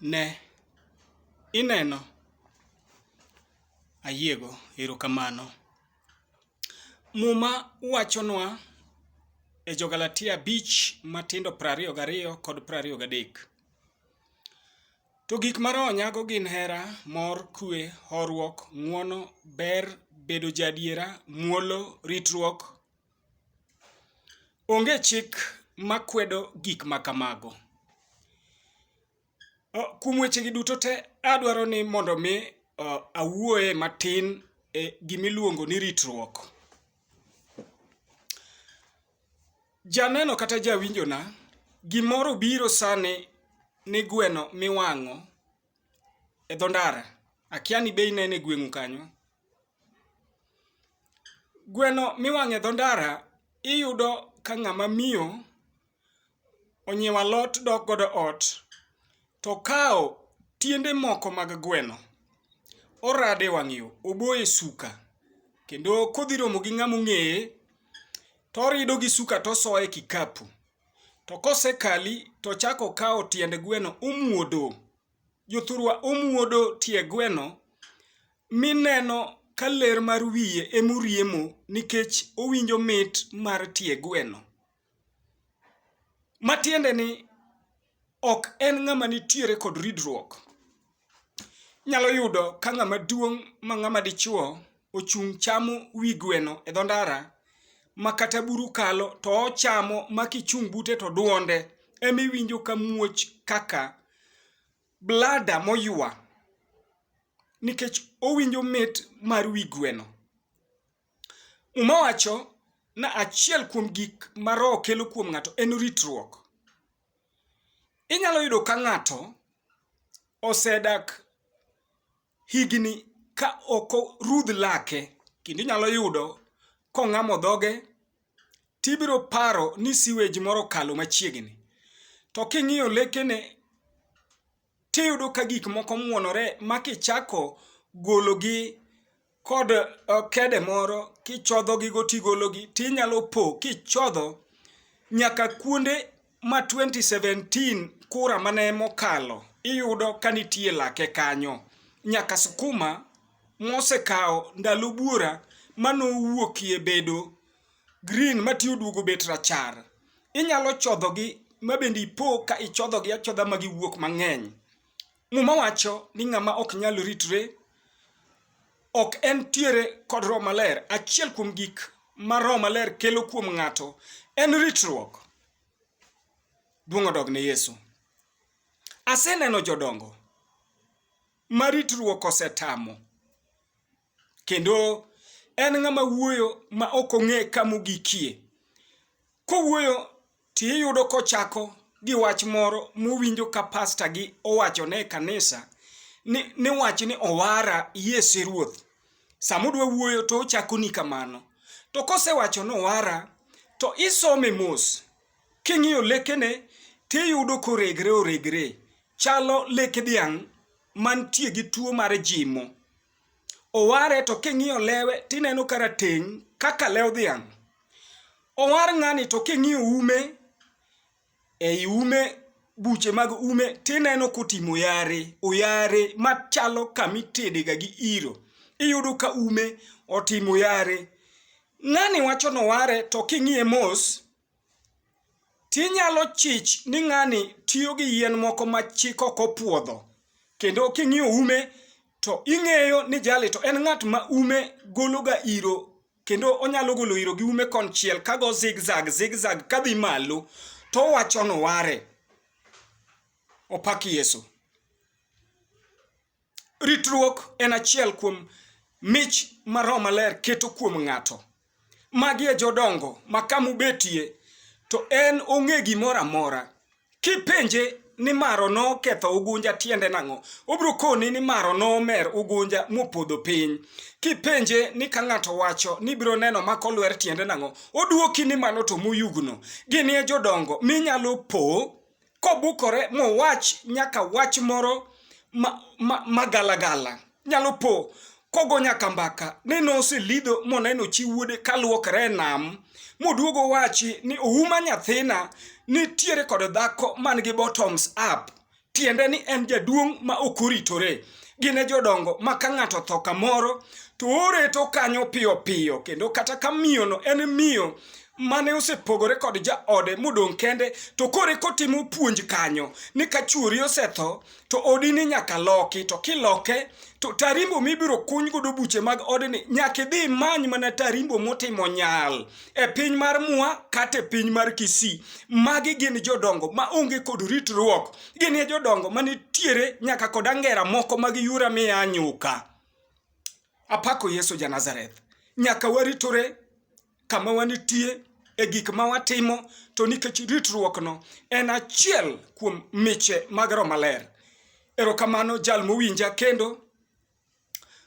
Ne, ineno. Ayiego, erokamano. Muma wachonwa e jo Galatia abich matindo prariyo gariyo kod prariyo gadek. To gik ma Roho nyago gin hera, mor, kwe, horuok, ng'wono, ber, bedo jaadiera, muolo, ritruok, Onge chik ma kwedo gik ma kamago. Kuom wechegi duto te, adwaro ni mondo mi awuoye matin e gima iluongo ni ritruok. Janeno kata jawinjona, gimoro obiro sani ni gweno miwang'o e dho ndara, akia ni be inene e gweng'u kanyo, Gweno miwang'o e dho ndara iyudo ka ng'ama miyo onyiewo alot dok godo ot to okawo tiende moko mag gweno orado e wang' yo oboyo e suka kendo kodhi romo gi ng'ama ong'eye to orido gi suka to osoyo e kikapu to kosekali to ochako okawo tiend gweno omuodo. jothurwa omuodo tie gweno mineno ka ler mar wiye emoriemo nikech owinjo mit mar tie gweno. Matiende ni ok en ng'ama nitiere kod ridruok. Inyalo yudo ka ng'ama duong' ma ng'ama dichuo ochung' chamo wi gweno e dho ndara ma kata buru kalo to ochamo ma kichung' bute to duonde emiwinjo ka muoch kaka blada moywa nikech owinjo mit mar wi gweno. Muma wacho na achiel kuom gik ma roho kelo kuom ng'ato en ritruok. Inyalo yudo ka ng'ato osedak higni ka ok orudh lake kendo inyalo yudo kong'amo dhoge tibiro paro ni siwej moro kalo machiegni to king'iyo lekene tiyudo ka gik moko muonore ma kichako gologi kod eh, kede moro kichodhogigo tigologi tinyalo po kichodho nyaka kuonde ma 2017 kura mane mokalo iyudo ka nitie lake kanyo nyaka Sukuma mosekawo ndalo buora manowuokie bedo green matiyo duogo bet rachar inyalo chodhogi mabende ipo ka ichodhogi achodha magiwuok mang'eny Muma wacho ni ng'ama ok nyal ritre ok en tiere kod Roho Maler. Achiel kuom gik ma Roho Maler kelo kuom ng'ato en ritruok. Duong' odog ne Yesu. Aseneno jodongo ma ritruok osetamo. kendo en ng'ama wuoyo ma ok ong'e kama ogikie. Kowuoyo to iyudo kochako gi wach moro mowinjo ka pasta gi owachone e kanisa ni, ni wach ni owara yese ruoth. Sama odwa wuoyo to ochako ni kamano. To kosewacho ni owara to isome mos. King'iyo lekene to iyudo koregre oregre. Chalo lek dhiang' mantie gi tuo mar jimo. oware to king'iyo lewe tineno ka rateng' kaka lew dhiang'. Owar ng'ani to king'iyo ume, ei ume buche mag ume tineno kotimo oyare, oyare machalo kama itedega gi iro. Iyudo ka ume otimo oyare. Ng'ani wacho ni oware to king'iye mos Tinyalo chich ni ng'ani tiyo gi yien moko ma chik ok opuodho. Kendo king'iyo ume to ing'eyo ni jali to en ng'at ma ume gologa iro kendo onyalo golo iro gi ume konchiel kago zigzag zigzag kadhi malo to owacho noware. Opak Yesu. Ritruok en achiel kuom mich ma Roho Maler keto kuom ng'ato. Magi e jodongo ma ka mubetie to en ong'e gimoro amora. Kipenje ni maro noketho ugunja tiende nang'o, obiro koni ni maro nomer ugunja mopodho piny. Kipenje ni ka ng'ato wacho ni biro neno ma kolwer tiende nang'o, oduoki ni mano to moyugno. Gin e jodongo minyalo po kobukore mowach nyaka wach moro magalagala nyalo po kogo nyaka mbaka ni noselido moneno chi wuode kaluokre e nam moduogo wachi ni ouma nyathina nitiere kod dhako man gi bottoms up tiende ni en jaduong' ma ok oritore gin e jodongo ma ka ng'ato tho kamoro to oreto kanyo piyo piyo kendo kata ka miyono en miyo mane osepogore kod jaode modong' kende to kore kotimo puonj kanyo ni ka chuori osetho to odini nyaka loki to kiloke to tarimbo mibiro kuny godo buche mag odni nyaka idhi imany mana tarimbo motimo nyal e piny mar mwa kata e piny mar kisii magi gin jodongo ma onge kod ritruok gin e jodongo manitiere nyaka kod angera moko mag yura miya nyuka apako yesu ja nazareth nyaka waritore kama wanitie e gik ma watimo to nikech ritruokno en achiel kuom miche mag roho maler erokamano jal mowinja kendo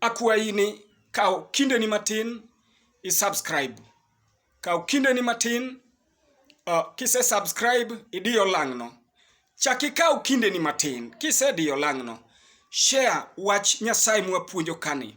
akwayi ni kaw kindeni matin isubscribe kaw kindeni matin uh, kise subscribe idiyo lang'no chak ikaw kindeni matin kisediyo lang'no share wach nyasaye mwapuonjo kani